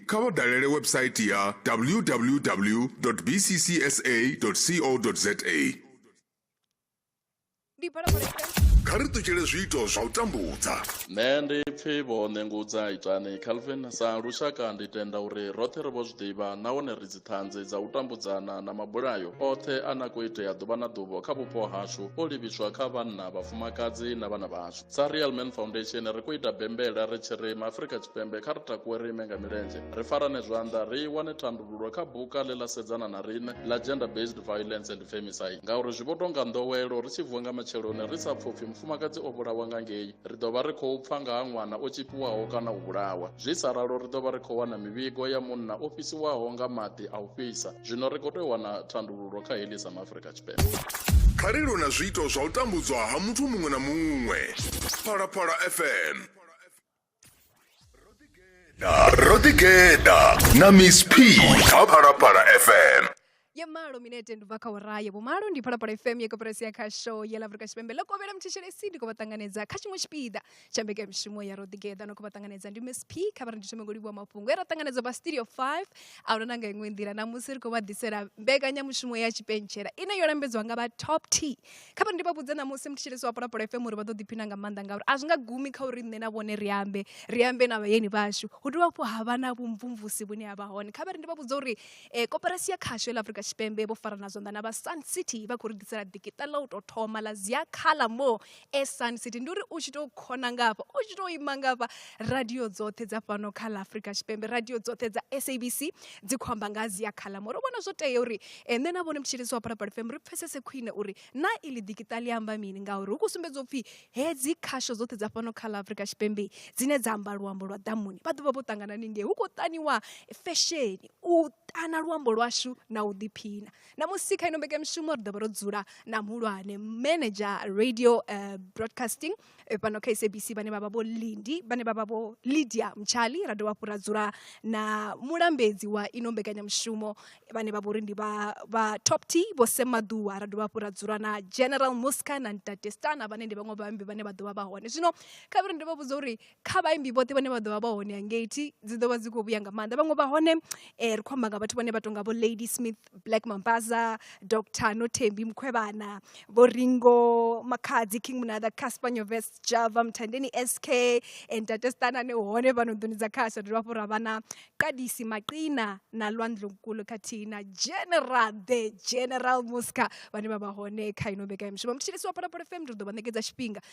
kha vha dalele website ya www.bccsa.co.za Ndi phalaphala ita kha ri ṱutshele zwiito zwa u tambudza nṋe ndi pfi vho ṋengudza itani calvin sa lushaka ndi tenda uri roṱhe ri vho zwi ḓivha nahone ri dziṱhanzi dza u tambudzana na mabulayo oṱhe a na khou itea ḓuvha na ḓuvha kha vhupo hashu o livhiswa kha vhanna vhafumakadzi na vhana vhashu sa real man foundation ri khou ita bembela ri tshi ri maafrika tshipembe kha ri takuwe ri ime nga milenzhe ri farane zwanḓa ri wane thandululo kha buka ḽe ḽa sedzana na riṋe ḽa gender based violence and femicide ngauri zwi vho tonga nḓowelo ri tshi vuwa nga matsheloni ri sa pfupfi mufumakadzi o vhulawa nga ngei ri ḓo vha ri khou pfa nga ha ṅwana o tshipiwaho kana u vhulawa zwi sa ralo ri ḓo vha ri khou wana mivhigo ya munna o fhisiwaho nga maḓi a u fhisa zwino ri khou tea u wana thandululo kha heḽi sa maafrika kha ri lwe na zwiito zwa u tambudzwa ha muthu muṅwe na muṅwe phalaphala fm ro ḓigeḓa na miss p kha phalaphala fm ya malo minete ndi bva kha ora ya vhumalo ndi phalaphala fm ya koporasi ya khasho ya ḽa afurika tshipembe ḽo kovhela muthetshele si ndi khou vha ṱanganedza kha tshiṅwe tshipiḓa tsha mbekamishumo ya ro ḓigeḓa no khou vha ṱanganedza ndi msp kha vha ri ndi thome ngo livhuwa mafhungo e ra ṱanganedza vha studio 5 a huna na nga iṅwe nḓila namusi ri khou vha ḓisela mbekanyamushumo ya tshipentshela ine yo lambedziwa nga vha top t kha vha ndi vha vhudze namusi muthetshelesi wa polapolo fm uri vha ḓo ḓiphina nga maanḓa ngauri a zwi nga gumi kha uri nṋe na vhone ri ambe ri ambe na vhayeni vhashu hu dovha hafhu ha vha na vhumvumvusi vhune ha vha hone kha vha ri ndi vha vhudze uri um koperasi ya khasho ḽa afrika tshipembe vho farana zwanḓa na vha sun city vha khou ri ḓisela ḓikiṱa ḽa u tou thoma ḽa zia khala mo e sun city ndi uri u tshi tou khona nga hafha u tshi tou ima nga hafha radio dzoṱhe dza fhano kha ḽa afrika tshipembe radio dzoṱhe dza sabc dzi khou amba nga ha zia khalam uri vhona zwo tea uri eh, nṋe na vhone mutshilisi wa parapara fm ri pfesese khwine uri na iḽi ḓikiṱa ḽi amba mini ngauri hu khou sumbedza u pfhi hedzi khasho dzoṱhe dza fhano kha ḽa afrika tshipembe dzine dza amba luambo lwa ḓamuni vha ḓovha vho ṱangana ningei hu khou ṱaniwa fesheni u ṱana luambo lwashu na u ḓiphina ṋamusi kha ino mbekanyamushumo ri ḓovha ro dzula na muhulwane manager radio uh, broadcasting eh, fhano kha sabc vhane vha vha vho lindi vhane vha vha vho lydia mtshali ra dovha hafhu ra dzula na mulambedzi wa ino mbekanyamushumo vhane vha vhori ndi vha vha top t vho semaḓuwa ra dovha hafhu ra dzula na general musca na ntate stana vhane ndi vhaṅwe vhaambi vhane vha ḓovha vha hone zwino khavhiri ndi vha vhudza uri kha vhaimbi vhoṱhe vhane vha ḓo vha vha hone hangei thi dzi ḓo vha dzi khou vhuya nga maanḓa vhaṅwe vha hone um ri khou amba nga vhathu vhane vha tonga vho lady smith black mambaza dr nothembi mukhwevhana vho ringo makhadzi king munada casper nyoves java mthandeni sk and tate stanane hone vha no ḓoni dza khasha dovha hafhu ra vha na qadisi maqina na lwandlonkulu khathihi na general the general musca vhane vha vha hone kha ino mbekanyamishumo mthetshelesi wa phalaphala fm ri ḓo vha ṋekedza tshifhinga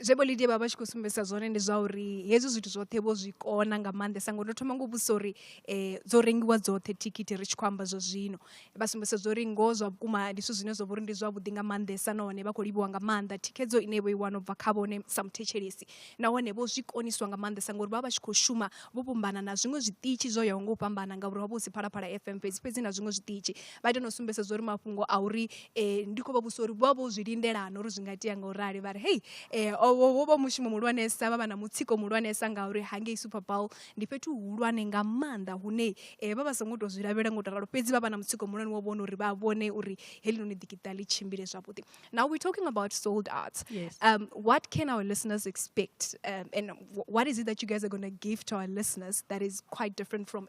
zwe vho Lydia vha vha tshi khou sumbedzisa zwone ndi zwa uri hezwi zwithu zwoṱhe vho zwi kona nga maanḓesa ngori ndo thoma ngo vhudzisa uri um dzo rengiwa dzoṱhe thikhithi ri tshi khou amba zwa zwino vha sumbedzisa zwa uri ngoho zwa vhukuma ndi zwithu zwine zwa vha uri ndi zwavhuḓi nga maanḓesa nahone vha khou livhiwa nga maanḓa thikhedzo ine vho i wana u bva kha vhone sa muthetshelesi nahone vho zwi koniswa nga maanḓesa ngori vha vha tshi khou shuma vho fhambana na zwiṅwe zwiṱitshi zwo yaho nga u fhambana ngauri ho vha hu si phalaphala fm fhedzi fhedzi na zwiṅwe zwiṱitshi vha ita na u sumbedzisa zwa uri mafhungo a uri um ndi khou vha vhudzisa uri vho vha vho zwi lindela na uri zwi nga itea nga u rali vha ri hei um wo vha mushumo muhulwanesa vha vha na mutsiko muhulwanesa ngauri hangei super bowl ndi fhethu huhulwane nga maanḓa hune um vha vha songo tou zwi lavhelela ngo tou ralo fhedzi vha vha na mutsiko muhulwane wo vhona uri vha vhone uri helinoni ḓikiṱa ḽi tshimbile zwavhuḓi now we're talking about sold out yes. um, what can our listeners expect um, and what is it that you guys are going to give to our listeners that is quite different from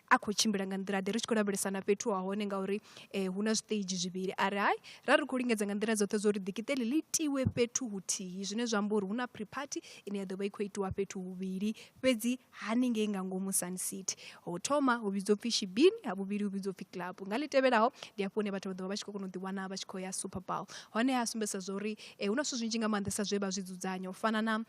a khou tshimbila nga nḓila ḓe ri tshi khou lavhelesana fhethu ha hone ngauri um hu na zwiṱeizhi zwivhili a ri hai ra ri khou lingedza nga nḓila dzoṱhe zwo ri ḓikiṱeli ḽi tiwe fhethu huthihi zwine zwa amba uri hu na pre party ine ya ḓo vha i khou itiwa fhethu huvhili fhedzi haningei nga ngomu sun city ho thoma hu vhidzwa upfhi shibini ha vhuvhili hu vhidzwa upfhi club nga ḽi tevhelaho ndi hafho hune vhathu vha ḓo vha vha tshi khou kona u ḓiwana vha tshi khou ya super bowl hone ha sumbedzisa zwa uri um hu na zwithu zwinzhi nga maanḓesa zwe vha zwi dzudzanya u fana na um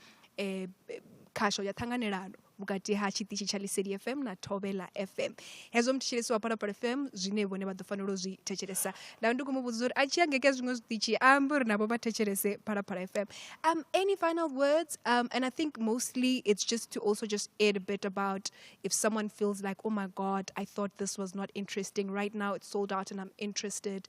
khasho ya ṱhanganelano vhukati ha tshiṱitshi tsha liseli fm na thovhela fm hezwo muthetshelesi wa parapara fm zwine vhone vha ḓo fanela u zwi thetshelesa nda ndi khou mu vhudza uri a tshi angeke zwiṅwe zwiṱitshi a ambe uri navho vha thetshelese parapara fm um any final words um and i think mostly it's just to also just add a bit about if someone feels like oh my god i thought this was not interesting right now it's sold out and i'm interested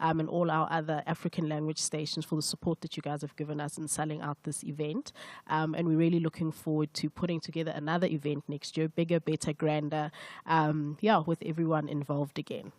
um, and all our other African language stations for the support that you guys have given us in selling out this event. Um, and we're really looking forward to putting together another event next year, bigger, better, grander, um, yeah, with everyone involved again.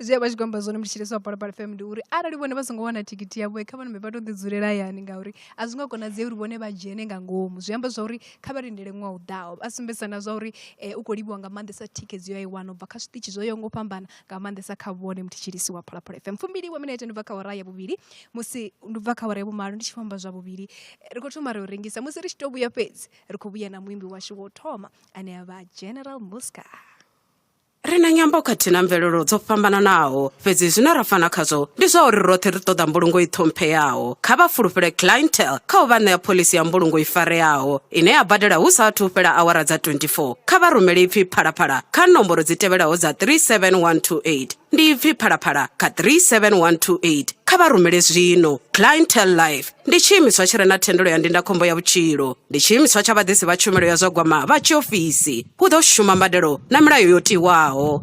zviya vha tshigomba zwone mutshitshitshisi wa balabala fm ndi uri arali vhone vha songo wana thikiti yavho kha vhone vha to ḓi dzulela yani ngauri a zwi nga konadzei uri vhone vha dzhene nga ngomu zwi amba zwa uri kha vha lindele ṅwaha u ḓaho a sumbedzisa na zwa uri um u khou livhiwa nga maanḓesa thikedzo yo i wana u bva kha zwiṱitshi zwo yaho ngo fhambana nga maanḓesa kha vhone muthetshelisi wa phalaphala fm fumbili wa minete ndi bva kha hora ya vhuvhili musi ndi bva kha hora ya vhumalo ndi tshi fhamba zwa vhuvhili ri khou thoma ri u rengisa musi ri tshi tou vhuya fhedzi ri khou vhuya na muimbi washu wo thoma ane a vha general muska ri na nyambo khathihi na mvelelo dzo fhambananaho fhedzi zwine ra fana khazwo ndi zwa uri roṱhe ri ṱoḓa mbulungo i ṱhompheyaho kha vha fulufhele clientel kha u vha ṋea phoḽisi ya mbulungo i fareaho ine ya badela hu sa athu u fhela awara dza 24 kha vha rumele ipfi phalaphala kha nomboro dzi tevhelaho dza 37128 ndi ipfi phalaphala kha 37128 kha vha rumele zwino clientel life ndi tshiimiswa tshi re na thendelo ya ndindakhombo ya vhutshilo ndi tshiimiswa tsha vhaḓisi vha tshumelo ya zwa gwama vha tshiofisi hu ḓo shuma mbadelo na milayo yo tiwaho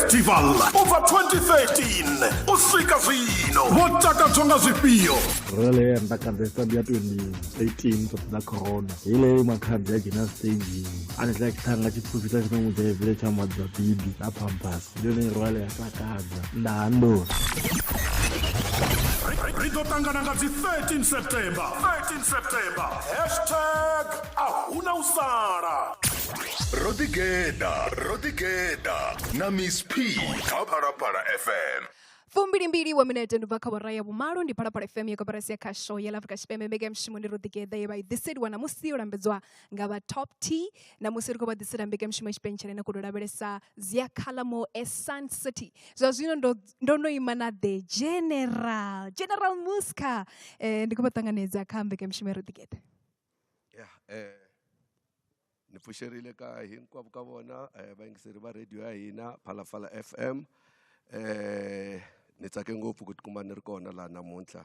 festival over 2013 u swika zwino vho takadzwa nga zwifhio rele mbakadza ya 2018 ṱoḓa corona ile makhadzi a dzhena staging a re tla tlhang ka dipupi tsa tsena mo jaebele tsa madza bibi na pampas yo ne rwale ya tla kaza ndando ri ḓo ṱangana nga dzi 13 september 13 september hashtag a huna u sala ro ḓigeḓa ro ḓigeḓa na miss p kha phalaphala fm fumbilimbili wa minete ndi bva kha vhora ya vhumalo ndi phalaphala fm ya koperasi ya khasho ya la afrika tshipembe mbekanyamishumo ndi ro ḓigeḓa ye vha i ḓiseliwa ṋamusi yo lambedzwa nga vha top t ṋamusi ri khou vha ḓisela mbekanyamushumo ya tshipentshele na khou tou lavhelesa zia calamo e sun city zwa zwino ndo ndo no ima na the general general musca um ndi khou vha ṱanganedza kha mbekanyamushumo ya roḓigeḓe ya um ni pfuxerile ka hinkwavo ka vona um vayingiseri va radio ya hina phalaphala f m um ni tsake ngopfu ku tikuma ni ri kona laha namuntlha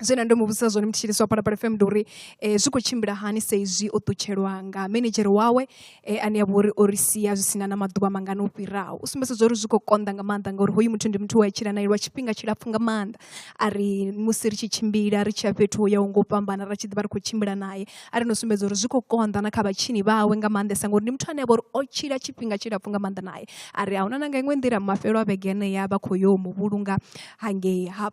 Zwine nda ndo muvhudzisa zwone mutshilisi wa Phalaphala FM ndi uri zwi khou tshimbila hani sa izwi o ṱutshelwa nga minidzhere wawe ane avha uri o ri sia zwi sina na maḓuvha mangana o fhiraho. U sumbedzisa zwa uri zwi khou konḓa nga maanḓa ngauri hoyu muthu ndi muthu we a tshila nae lwa tshifhinga tshilapfhu nga maanḓa. A ri musi ri tshi tshimbila ri tshiya fhethu ho yaho nga u fhambana ra tshi ḓivha ri khou tshimbila nae a ri no sumbedza uri zwi khou konḓa na kha vhatshini vhawe nga maanḓesa ngori ndi muthu ane avha uri o tshila tshifhinga tshilapfhu nga maanḓa nae. A ri ahuna na nga iṅwe nḓila mafhelo a vhege yeneya vha kho yo muvhulunga hangei ha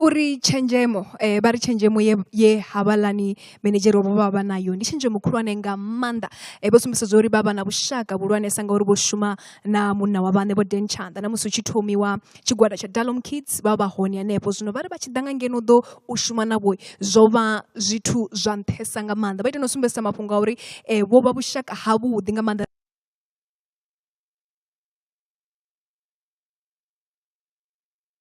Uri tshenzhemo vha ri tshenzhemo ye ye havhaḽani minidzhere vho vha vha nayo ndi tshenzhemo khulwane nga maanḓa vho sumbedzisa uri vha vha na vhushaka vhuhulwanesa ngauri vho shuma na munna wa vhaṋe vho Dan Tshanḓa na musi hu tshi thomiwa tshigwada tsha Dalom Kids vha vha hone hanefho zwino vhari vha tshi ḓa nga ngeno ḓo u shuma na vho zwo vha zwithu zwa nṱhesa nga maanḓa vha ita no sumbedzisa mafhungo a uri vho vha vhushaka ha vhuḓi nga maanḓa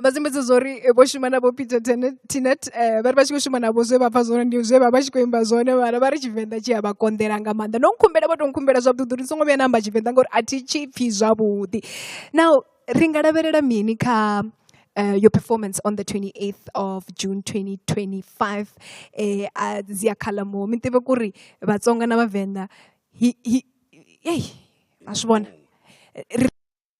vha sumbedza zwori vho shuma na vho peter tinet um vhari vha tshi khou shuma navho zwe vha pfha zwone ndi zwe vha vha tshi khou imba zwone vhara vha ri tshivenḓa tshi a vha konḓela nga maanḓa no nkhumbela vho to nkhumbela zwavhuḓi uri ni songo vhuya na amba tshivenḓa ngauri a thi tshi pfhi zwavhuḓi now ri nga lavhelela mini kha uh, your performance on the 28th of June 2025 eh a zia khala mo mi tive kuri vatsonga na vavenda hi hi hey a swi vona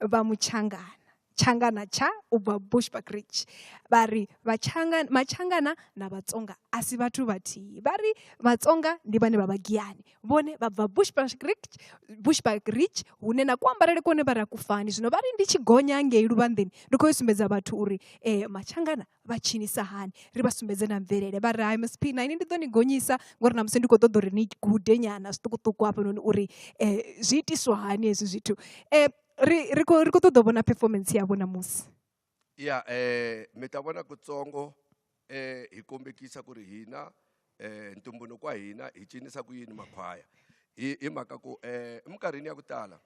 vha mutshangana tshangana tsha u bva bushbuckridge vha ri matshangana na vhatsonga a si vhathu vhathihi vha ri vhatsonga ndi vhane vha vhagiyani vhone vha bva bushbuckridge hune na kuambarele kone vha ra kufani zwino vha ri ndi tshi gonya ngei luvhanḓeni ndi khou yo sumbedza vhathu uri um matshangana vha tshinisa hani ri vha sumbedze na mvelele vha ri hai msp na ini ndi ḓo ni gonyisa ngori na musi ndi khou ṱoḓa uri ni gude nyana zwiṱukuṱuku hafhanoni uri um zwi itiswa hani hezwi zwithu um ri ri khou ri khou ṱoḓa u vhona performance yavho namusi ya um mi ta vona kutsongo um hi kombekisa ku ri hina um ntumbuluko wa hina hi cinisa ku yini makhwaya hi hi mhaka ku um eminkarhini ya ku tala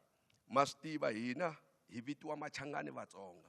ma swi tiva hina hi vitiwa machangani vatsonga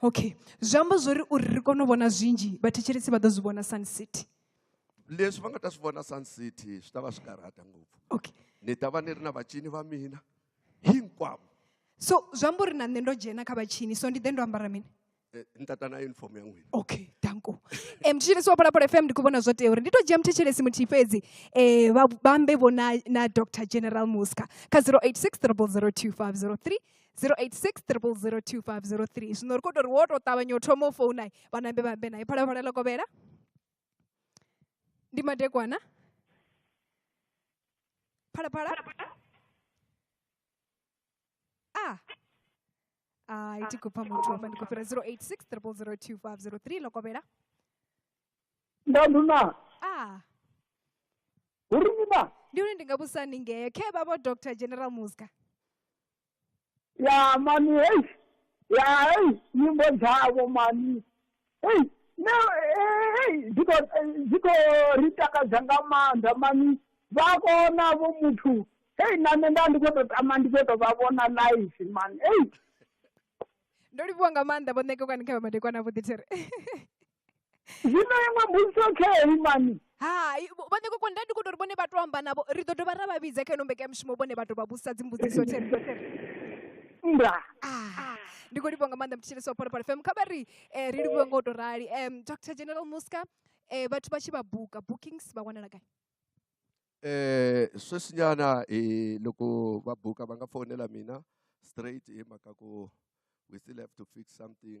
okay zwi amba zwori uri ri kone u vhona zwinzhi vhathetshelesi vha ḓo zwi vhona sun city leswi va nga ta swi vona sun city swi ta va swi karhata ngopfu okay ni ta va ni ri na vacini va mina hinkwavo so zwi amba uri na nṋe ndo dzhena kha vhatshini so ndi ḓe ndo ambara mini Eh, ni ta ta na uniform ya n'wina okay danko um thetshelesi wa phalaphala fm ndi khou vhona zwo tea uri ndi tou dzhia muthetshelesi muthihi fhedzi um vha vhambe vho na, na dr general muska kha 086 002503 086 002503 zwino ri khou tou ri wo tou ṱavhanya u thoma u founa vhanambe vha ambe naye phalaphala ḽo kovhela ndi madekwana phalaphala a a i ti khou pfa muthu hafha ndi khou fhira 086 002503 ḽo kovhela ndanduna ah uri ni na ndi uri ndi nga vhusa ni ngeo khe vha vho dr general muska ya mani hei ya hei nyimbo dzavho mani hei ne eh, hei dziko eh, dziko ri takadza nga maanḓa mani vha kona vho muthu hei na nṋe nda ndi khou tou tama ndi khou tou vha vhona live mani hei ndo livhuwa nga maanḓa vho ṋekekwani kha vha madekwana vho ḓithere zwino iṅwe mbudziso khei mani hai vhone koko nda ndi kho tori vhone vha to amba navho ri ḓo dovha ra vha vhidza kha ino mbekanyamushumo vhone vha to vha vhudzisa dzimbudziso there nda Ah, ndi khou livhuwa nga maanḓa mthetshelesi wa phalaphala fm kha vha ri eh, ri livhuwe nga u tou rali um dr general muska eh, vhathu vha tshi vha buka bookings vha wanala gai Eh, sweswinyana eh, loko va buka va nga fonela mina straight hi mhaka ku we still have to fix something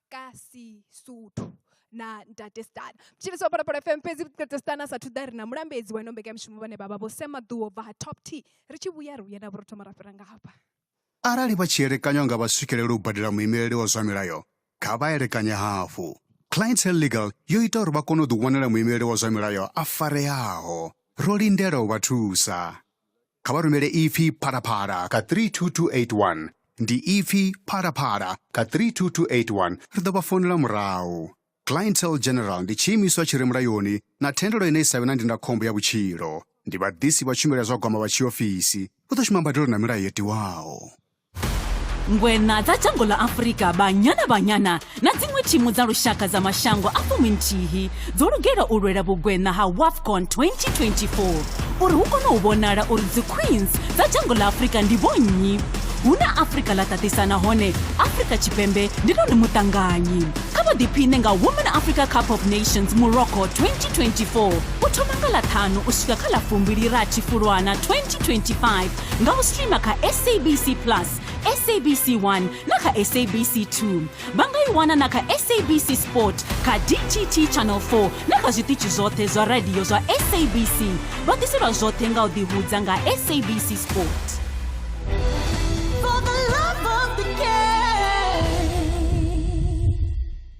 ka sisuthu na ntate stana tshivhiso phalaphala fm fhedzi ntate stana sa thuḓa ri na mulambedzi wa ino mbekanyamushumo vhane vha vha vho sema ḓuwo bva ha top t ri tshi vhuya ri vhuya na vho ro thoma ra fhira nga hafha arali vha tshi elekanywa nga vha swikelele u badela muimeleli wa zwa milayo kha vha elekanye hafhu clientele legal yo ita uri vha kone u ḓiwanela muimeleli wa zwa milayo a fareaho ro lindela u vha thusa kha vha rumele ipfi phalaphala kha 32281 ndi ipfi phalaphala kha 32281 ri ḓo vha founela murahu clientele general ndi tshiimiswa tshi re mulayoni na thendelo ine i sa vhe na ndindakhombo ya vhutshilo ndi vhaḓisi vha tshumelo ya zwa gwama vha tshiofisi vha ḓo shuma mbadelo na milayo yo tiwaho ngweṋa dza dzhango ḽa afurika banyana banyana na dziṅwe thimu dza lushaka dza mashango a fumi nthihi dzo lugela u lwela vhugweṋa ha wafcon 2024 uri hu kone u vhonala uri dziqueens dza dzhango ḽa afurika ndi vhonnyi hu na afurika ḽa ṱaṱisa nahone afurika tshipembe ndi ḽone muṱanganyi kha vha ḓiphiṋe nga women africa cup of nations morocco 2024 u thoma nga ḽa ṱhanu u swika kha ḽa fumbili rathi fulwana 2025 nga u streamer kha sabc plus sabc 1 na kha sabc 2 vha nga i wana na kha sabc sport kha dtt channel 4 na kha zwiṱitshi zwoṱhe zwa radio zwa sabc vha ḓiselwa zwoṱhe nga u ḓihudza nga sabc sport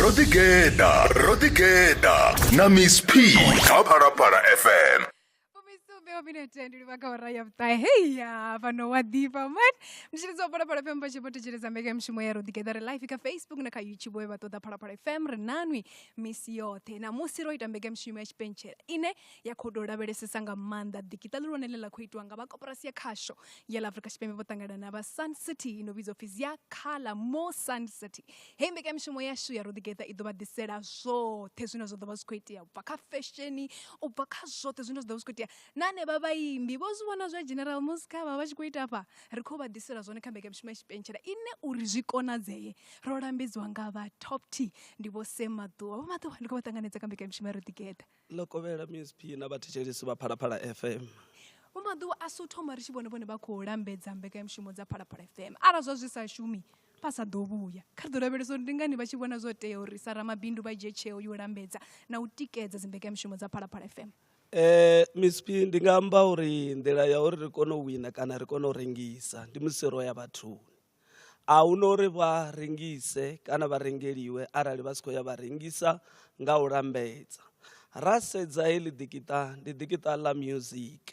ro ḓi geḓa ro ḓi geḓa na miss p kha phalaphala fm veo minete ndi livha kha ora ya vhuṱahe heya fhano wa ḓifha man mutshilidzi wa phalaphala fm vha tshi vho thetsheleza mbekanyamushumo ya roḓigeḓa re live kha facebook na kha youtube we vha ṱoḓa phalaphala fm ri nanwi misi yoṱhe namusi ro ita mbekanyamushumo ya tshipentshela ine ya khou tou lavhelesesa nga maanḓa ḓikiṱa ḽihulwane ḽe ḽa khou itiwa nga vha koporasi ya khasho ya ḽa afrika tshipembe vho ṱangana na vha sun city ino vhidzwa pfi zia khala mo sun city hei mbekanyamishumo yashu ya roḓigeḓa i ḓo vha ḓisela zwoṱhe zwine zwa ḓo vha zwi khou itea u bva kha fesheni u bva kha zwoṱhe zwine zwa ḓo vha zwi khou itea na hanevha vhaimbi vho zwi vhona zwa general musika vha vha tshi khou ita afha ri khou vha ḓisela zwone kha mbekanyamishumo ya tshipentshela ine uri zwi konadzee ro lambedziwa nga vha top t ndi vho semaḓuwa vho maḓuwa ndi khou vha ṱanganedza kha mbekanyamishumo ya roḓigeḓa ḽo kovhela msp na vhathetshelesi vha phalaphala fm vho maḓuvha a si u thoma ri tshi vhone vhone vha khou lambedza mbekanyamushumo dza phalaphala fm arali zwa zwi sa shumi vha sa ḓo vhuya kha ri ḓo lavhelesa uri ndi ngani vha tshi vhona zwo tea uri sa ramabindu vha dzhie tsheo yo lambedza na u tikedza dzimbekanyamushumo dza phalaphala fm Eh Miss P ndi nga amba uri nḓila ya uri ri kone u wina kana ri kone u rengisa ndi musi ro ya vhathuni. a hu na uri vha rengise kana vha rengeliwe arali vha si khou ya vha rengisa nga u lambedza ra sedza heḽi ḓikiṱa ndi ḓikiṱa ḽa music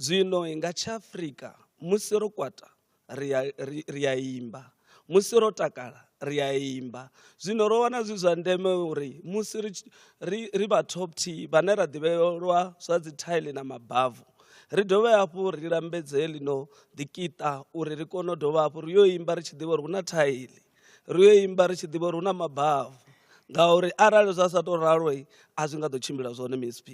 zwino nga tsha afrika musi ro kwata ri a imba musi ro takala ri a imba zwino ro wana zwi zwa ndeme uri musi ri vha top t vhane ra ḓivhelwa zwa dzi thaile na mabavu ri dovhe hafhu ri lambedze ḽino ḓikiṱa uri ri kone u dovha hafhu ri yo imba ri tshi ḓivha uri hu na thaili ri yo imba ri tshi ḓivha uri hu na mabavu ngauri arali zwa sa tou ralo a zwi nga ḓo tshimbila zwone msp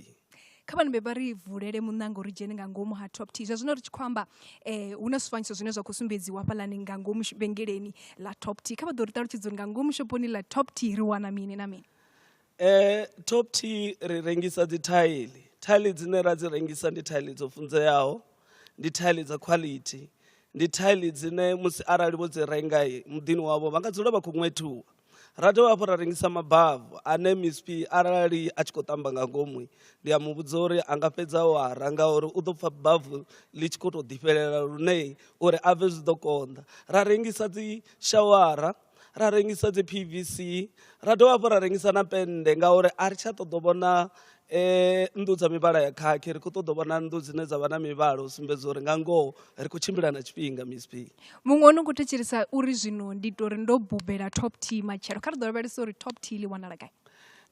kha vhana vha ri vulele muṋanga uri dzhene nga ngomu ha top t zwa zwino ri tshi khou amba um hu na zwifanyiso zwine zwa khou sumbedziwa hafhalani nga ngomu vhengeleni ḽa top t kha vha ḓo ri ṱalutshedza uri nga ngomu shoponi ḽa top t ri wana mini na mini Eh, top t ri rengisa dzi thaili thaili dzine ra dzi rengisa ndi thaili dzo funzeaho ndi thaili dza quality ndi thaili dzine musi arali vho dzi renga muḓini wavho vha nga dzula vha khou ṅwethuwa ra dovha hafhu ra rengisa mabavu ane misp arali a tshi khou tamba nga ngomu ndi a muvhudza uri a nga fhedza o ara ngauri u ḓo pfha bavu ḽi tshi khou tou ḓifhelela lune uri a bve zwi ḓo konḓa ra rengisa dzi shawara ra rengisa dzi pvc ra dovha hafhu ra rengisa na pennde ngauri a ri tsha ṱoḓo vhona um nnḓu dza mivhala ya khakhi ri khou ṱoḓo vhona nnḓu dzine dza vha na mivhala u sumbedza uri nga ngoho ri khou tshimbila na tshifhinga misp muṅwe o no khou thetshelesa uri zwino ndi to ri ndo bubela top t matshelo kha ri ḓo lavhelesa uri top t ḽi wanala gai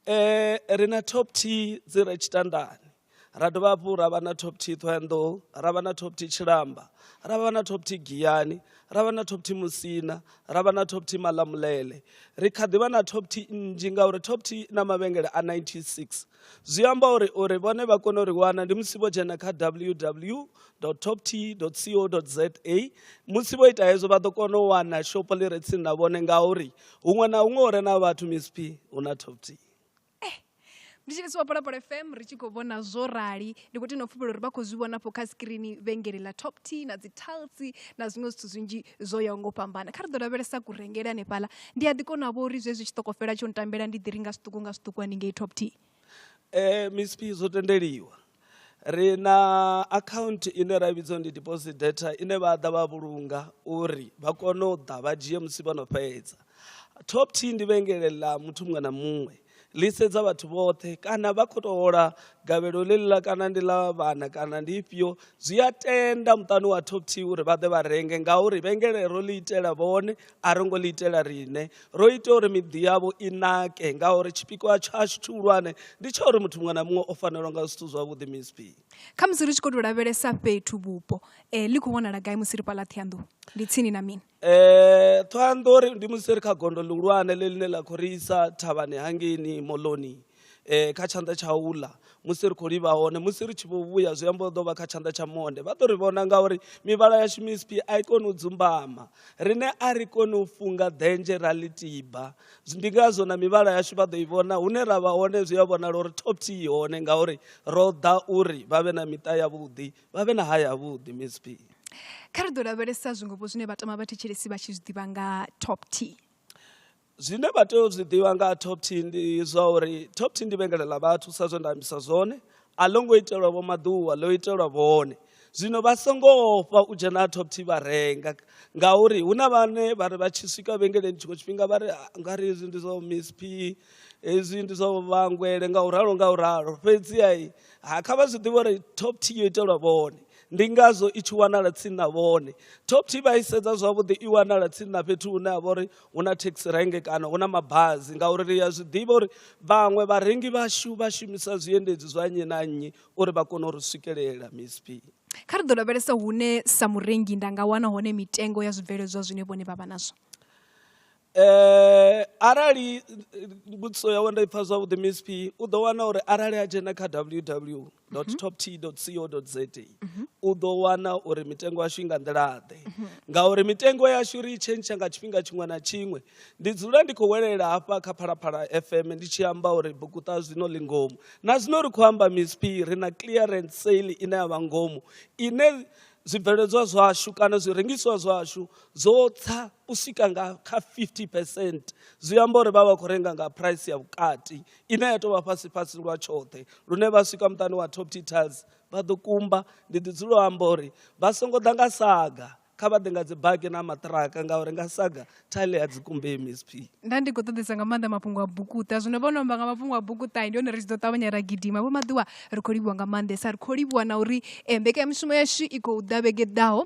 um ri na top t dzi re tshitandani ra dovha hafhu ra vha na top t thoenḓou ra vha na top t tshilamba ra vha na top t giyani ra vha na top t musina ra vha na top t malamulele ri kha ḓi vha na top t nnzhi ngauri top t na mavhengele a 96 zwi amba uri uri vhone vha kone uri wana ndi musi vho dzhena kha ww top t co za musi vho ita hezwo vha ḓo kona u wana shopo ḽi re tsini na vhone ngauri huṅwe na huṅwe hu re na vhathu misp hu na top t eh nditshilisi wa phalaphala fm ri tshi khou vhona zwo rali ndi khou tenda pfhufhela uri vha khou zwi vhona fho kha skrini vhengele ḽa top t na dzi talsi na zwiṅwe zwithu zwinzhi zwo yaho ngo fhambana kha ri ḓo lavhelesa kurengele hanefhala ndi a ḓi kona vho uri zwezwi tshi ṱokofela tsho ntambela ndi ḓi ri nga zwiṱuku nga zwiṱuku haningei top t um eh, misp zwo tendeliwa ri na akhaunthu ine ra vhidzwa ndi deposit data ine vha ḓa vha vhulunga uri vha kone u ḓa vha dzhie musi vho no fhedza top t ndi vhengele ḽa muthu muṅwe na muṅwe ḽi sedza vhathu vhoṱhe kana vha khou tou hola gavhelo ḽeḽiḽa kana ndi ḽa vhana kana ndi ifhio zwi a tenda muṱani wa top t uri vha ḓe vha renge ngauri vhengelero ḽi itela vhone a ro ngo ḽi itela riṋe ro ita uri miḓi yavho i nake ngauri tshipikwa tshashu tshihulwane ndi tsha uri muthu muṅwe na muṅwe o fanelwa nga zwithu zwavhuḓi msp kha musi ri tshi khou tou lavhelesa fhethu vhupo um ḽi khou vhonala gai musi ri fhaḽa ṱhianḓou ndi tsini na mini um eh, ṱhoanḓou ndi musi ri kha gondo ḽihulwane ḽe ḽine ḽa khou ri isa thavhani hangeni moloni eh, kha tshanḓa tsha uḽa musi ri khou livha hone musi ri tshi vho vhuya zwi amba ḓo vha kha tshanḓa tsha monde vha ḓo ri vhona ngauri mivhala yashu mispi a i koni u dzumbama rine a ri koni u funga ḓenzhe ra ḽi tiba ndi ngazwo na mivhala yashu vha ḓo i vhona hune ra vha hone zwi a vhonala uri top t i hone ngauri ro ḓa uri vha vhe na miṱa yavhuḓi vha vhe na haya yavhuḓi misp kha ri ḓo lavhelesa zwingopo zwine vhatama vha thetshelesi vha tshi zwi ḓivha nga top t zwine vha tea u zwi ḓivha nga ha top t ndi zwa uri top t ndi vhengele ḽa vhathu sa zwe nda ambisa zwone a ḽo ngo itelwa vho maḓuwa ḽo itelwa vhone zwino vha songo ofha u dzhena ha top t vha renga ngauri hu na vhane vha ri vha tshi swika vhengeleni tshiṅwe tshifhinga vha ri ah, nga ri hezwi ndi zwa miss p hezwi ndi zwa vhangwele nga u ralo nga u ralo fhedziha ha kha vha zwi ḓivha uri top t yo itelwa vhone ndi ngazwo i tshi wanala tsini na vhone top t vha i sedza zwavhuḓi i wanala tsini na fhethu hune ha vha uri hu na taxi rank kana hu na mabazi ngauri ri ya zwi ḓivha uri vhaṅwe vharengi vhashu vha shumisa zwiendedzi zwa nnyi na nnyi uri vha kone u ri swikelela msp kha ri ḓo lavhelesa hune sa murengi nda nga wana hone mitengo ya zwibveledzwa zwine vhone vha vha nazwo eh arali mbudziso yawe nda ipfa zwavhuḓi msp u ḓo wana uri arali a dzhena kha ww toptco.za mhm. u ḓo wana uri mitengo yashu i nga nḓilaḓe mhm. ngauri mitengo yashu ri i tshentsha nga tshifhinga tshiṅwe na tshiṅwe ndi dzula ndi khou welela hafha kha phalaphala fm ndi tshi amba uri bukuṱa zwino ḽi ngomu na zwino ri khou amba misp ri na clearance sale ine ya vha ngomu ine zwibveledzwa zwashu kana zwirengiswa zwashu zwo tsa u swika nga kha 50 percent zwi amba uri vha vha khou renga nga price ya vhukati ine ya tou vha fhasi-fhasi lwa tshoṱhe lune vha swika muṱani wa Topty Tiles vha ḓo kumba. Ndi ḓi dzula u amba uri vha songo ḓa nga saga, kha vha ḓe nga dzibaki na maṱiraka ngauri nga saga tile a dzi kumbei msp. Nda ndi khou ṱoḓesa nga maanḓa mafhungo a bukuṱa zwino vho no amba nga mafhungo a bukuṱa ndi hone ri tshi ḓo ṱavhanya ra gidima vho maḓiwa ri khou livhuwa nga maanḓesa ri khou livhuwa na uri eh, mbekanyamushumo yashu i khou ḓa vhege ḓaho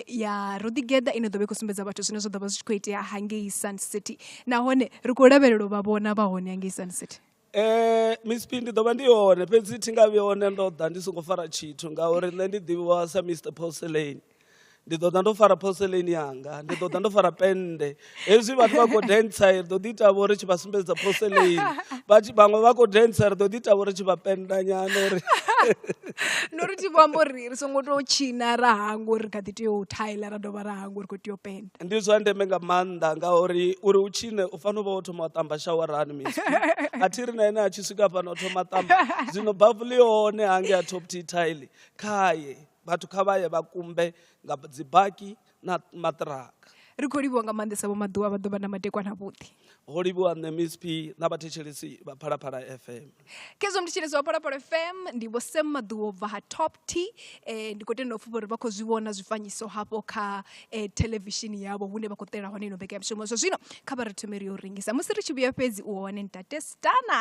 ya Ruḓigeda ine ḓo vha i khou sumbedza vhathu zwine zwa ḓo vha zwi tshi khou itea hangei Sun City nahone ri khou lavhelela u vha vhona vha hone hangei Sun City Eh Miss P ndi ḓo vha ndi hone fhedzi thi nga vhi hone ndo ḓa ndi songo fara tshithu ngauri nṋe ndi ḓivhiwa sa Mister Porcelain ndi ḓo ḓa ndo fara porcelain yanga ndi ḓo ḓa ndo fara pennde hezwi vhathu vha khou dentsa ri ḓo ḓi tavha uri tshi vha sumbedza poseleini vhathu vhaṅwe vha khou dentsa ri ḓo ḓi tavha uri tshi vha pendanyana uri no ri thi vho amba uri ri songo tou tshina ra hangwa uri ri kha ḓi tea u thaila ra dovha ra hangwa uri khou tea u penda ndi zwa ndeme nga maanḓa ngauri uri u tshine u fanela u vha wo thoma wa ṱamba shawarani mis a thi ri na ene a tshi swika fhano o thoma ṱamba zwino bavu ḽi hone hange a top t tile khaye vhathu kha vha ye vha kumbe nga dzibaki na maṱiraka ri khou livhuwa nga maanḓesa vho maḓuvha vha ḓovha na matekwana avhuḓi ho livhuwa nṋe msp na vhathetshelesi vha phalaphala fm khezwo mthetshelesi wa phalaphala fm ndi vho sam maḓuvha bva ha top t um eh, ndi khou tenda u pfha uri vha khou zwi vhona zwifanyiso hafho kha um thelevishini yavho hune vha khou ṱela hone ino mbekanyamishumo zwa zwino kha vha ri thomeri yo rengisa musi ri tshi vhuya fhedzi u hone ntate stana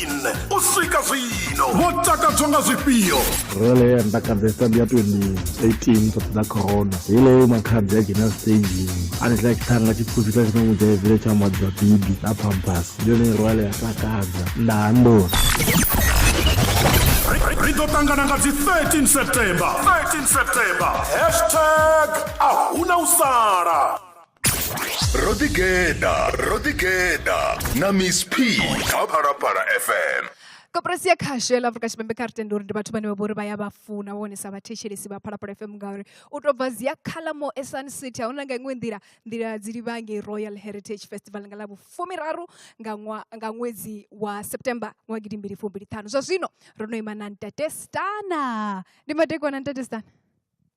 2014 u swika zwino vho takadzwa nga zwifhio role ya ntakadzesa ndi ya 2018 sathi ḓa corona heileyo makhadzi a dzhena stagini a ni tla tshithanga tshipfupi tla tshina mudzhaivile tsha maḓi dza bibi na pambas ndi yone role ya takadza nda handoni ri ḓo ṱangana nga dzi 13 september 13 september hashtag a huna u sala ro ḓigeḓa ro ḓigeḓa na miss p kha phalaphala fm koporasi ya khasho ya ḽa afrika tshipembe kha ri tende uri ndi vhathu vhane vha vhori vha ya vha funa vhone sa vhathetshelesi vha phalaphala fm ngauri u tou bva zia khalamo esun city a huna nga iṅwe nḓila nḓila dzi livha ngei royal heritage festival nga ḽa vhufumiraru nga, ṅwa, nga ṅwedzi wa september ṅwa gidi mbili fumbili ṱhanu zwa zwino ro no ima na ntate stana ndi madekwana ntate stana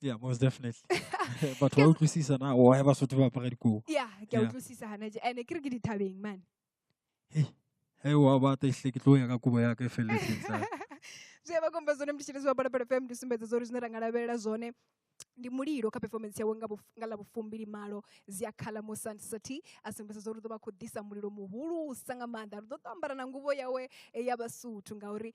Yeah, most definitely. but wa utlwisisa na o ya Basotho ba apara dikobo. Yeah, ke a utlwisisa hana je. Ene ke re ke dithabeng man. Hey. Hey wa ba ta ihle ke tlo ya ka kobo ya ka e felletseng sa. Zwe ba komba zone mtshitshisi wa Bada Bada FM ndi sumbedza zori zwine ra nga lavhelela zone ndi mulilo kha performance yawe nga nga ḽa vhufumbili malo zia khala mo sun city a sumbedza zwo ri ḓo vha khou ḓisa mulilo muhulusa nga maanḓa ri ḓo ṱambara na nguvho yawe eh, ya vhasuthu ngauri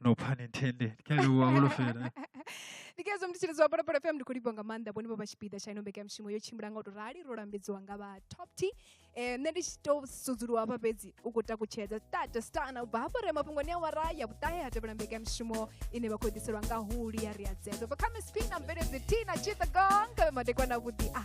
no pun intended kha ri wa holofela ndikezo ndi tshilidzo apano pano fm ndikho livhonga maanḓa vhone vho vha tshipiḓa tsha ino mbekanyamushumo yo tshimbila nga u to rali ro lambedziwa nga vha top t um nṋe ndi tshi to sudzuluwa hafha fhedzi u khou takutshedza stata stana u bva hafho re mafhungoni a wara ya vhuṱahe ha tevhela mbekanyamushumo ine vha khou ḓiselwa nga huli ya ri a dzedzo bva kha misp na mveledzi t na chitha gong kavhe madekwana vhuḓi a